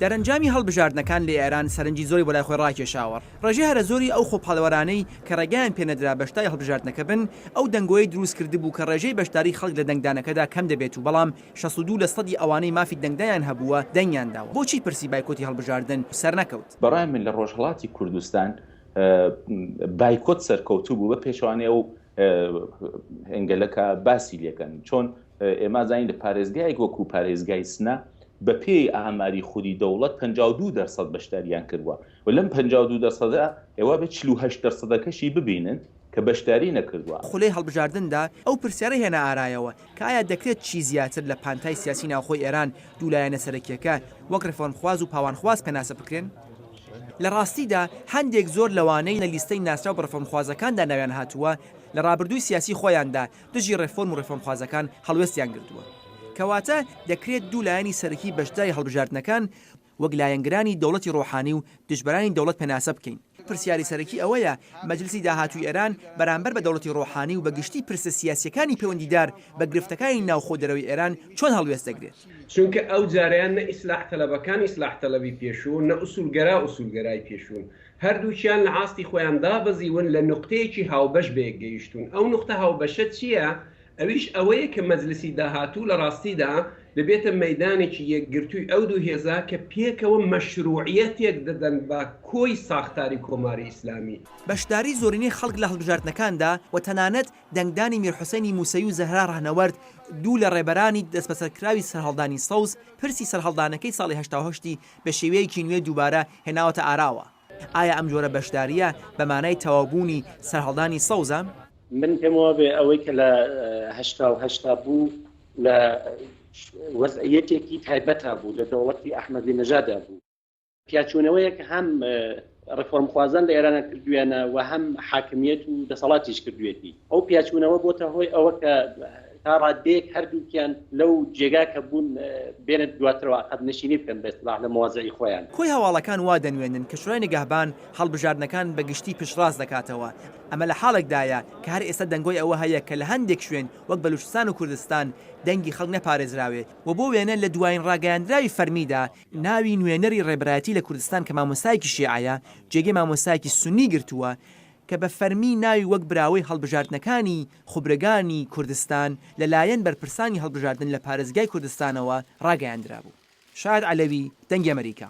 دەرەنجامی هەڵبژاردنەکان لە ئێران سەرنجی زۆری بۆ لای خۆی ڕاکێشاوە. ڕێژەی هەرە زۆری ئەو خۆپاڵێوەرانەی کە ڕێگەیان پێ نەدرا بەشداری هەڵبژاردنەکە بن، ئەو دەنگۆیەی دروست کردبوو کە ڕێژەی بەشداری خەڵک لە دەنگدانەکەدا کەم دەبێت و بەڵام شەست و دوو لە سەدی ئەوانەی مافی دەنگدانیان هەبووە دەنگیان داوە. بۆچی پرسی بایکۆتی هەڵبژاردن سەرنەکەوت؟ بە ڕای من لە ڕۆژهەڵاتی کوردستان بایکۆت سەرکەوتوو بوو بە پێچەوانەی ئەو ئەنگەلە کە باسی لێکەن. چۆن ئێمە زانین لە پارێزگایەک وەکوو پارێزگای سنە بە پێی ئاماری خودی دەوڵەت پەنجا و دوو دەر سەد بەشداریان کردووە و لەم پەنجا و دوو دەر سەدە ئێوە بە چل و هەشت دەر سەدەکەشی ببینن کە بەشداری نەکردووە. خولەی هەڵبژاردندا ئەو پرسیارە هێنا ئارایەوە کە ئایا دەکرێت چی زیاتر لە پانتای سیاسی ناوخۆی ئێران دوو لایەنە سەرەکییەکە وەک ڕێفۆرمخواز و پاوانخواز پێناسە بکرێن؟ لە ڕاستیدا هەندێک زۆر لەوانەی لە لیستەی ناسراو بە ڕێفۆرمخوازەکاندا ناویان هاتووە لە ڕابردووی سیاسی خۆیاندا دژی ڕێفۆرم و ڕێفۆرمخوازەکان هەڵوێستیان گرتووە. کەواتە دەکرێت دوو لایەنی سەرەکی بەشداری هەڵبژاردنەکان وەک لایەنگرانی دەوڵەتی ڕۆحانی و دژبەرانی دەوڵەت پێناسە بکەین. پرسیاری سەرەکی ئەوەیە مەجلیسی داهاتووی ئێران بەرامبەر بە دەوڵەتی ڕۆحانی و بە گشتی پرسە سیاسییەکانی پەیوەندیدار بە گرفتەکانی ناوخۆ و دەرەوەی ئێران چۆن هەڵوێست دەگرێت؟ چونکە ئەو جارەیان نە ئیسلاح تەلەبەکان ئیسلاح تەلەبی پێشوون، نە ئوسوولگەرا ئوسوولگەرای پێشوون. هەردووکیان لە ئاستی خۆیان دابەزیون لە نوقتەیەکی هاوبەش بەیەک گەیشتون ئەو نوقتە هاوبەشە چییە ئەویش ئەوەیە کە مەجلسی داهاتوو لە ڕاستیدا دەبێتە مەیدانێکی یەکگرتووی ئەو دوو هێزە کە پێکەوە مەشروعیەتێک دەدەن بە کۆی ساختاری کۆماری ئیسلامی. بەشداری زۆرینەی خەڵک لە هەڵبژاردنەکاندا و تەنانەت دەنگدانی میر حوسەینی موسەوی و زەهرا ڕەهنەوەرد دوو لە ڕێبەرانی دەستبەسەرکراوی سەرهەڵدانی سەوز پرسی سەرهەڵدانەکەی ساڵی هەشتا و هەشت ی بە شێوەیەکی نوێ دووبارە هێناوەتە ئاراوە. ئایا ئەم جۆرە بەشدارییە بە مانای تەواوبوونی سەرهەڵدانی سەوزە؟ من پێم وابێ ئەوەی کە لە هەشتا و هەشت دا بوو لە وەزعییەتێکی تایبەتا بوو، لە دەوڵەتی ئەحمەدی نەژادا بوو. پیاچوونەوەیەک هەم ڕێفۆرمخوازان لە ئێرانە کردویانە و هەم حاکمیت و دەسەڵاتیش کردوێتی ئەو پیاچوونەوە بۆتە هۆی ئەوە کە تا ڕادێک هەردووکیان لەو جێگا کە بوون بێنێت دواترەوە قەت نشینی بکەن بە سلاح لە مەوازعی خۆیان. کۆی هەواڵەکان وا دەنوێنن کە شورای نگەهبان هەڵبژاردنەکان بە گشتی پشتڕاست دەکاتەوە، ئەمە لە حاڵێکدایە کە هەر ئێستا دەنگۆی ئەوە هەیە کە لە هەندێک شوێن وەک بەلووچستان و کوردستان دەنگی خەڵک نەپارێزراوێت و بۆ وێنە لە دوایین ڕاگەیاندراوی فەرمیدا ناوی نوێنەری ڕێبەرایەتی لە کوردستان کە مامۆستایەکی شیعەیە، جێگەی مامۆستایەکی سوننی گرتووە کە بە فەرمی ناوی وەک براوەی هەڵبژاردنەکانی خوبرەگانی کوردستان لە لایەن بەرپرسانی هەڵبژاردن لە پارێزگای کوردستانەوە ڕاگەیاندرابوو. شاد عەلەوی، دەنگی ئەمەریکا.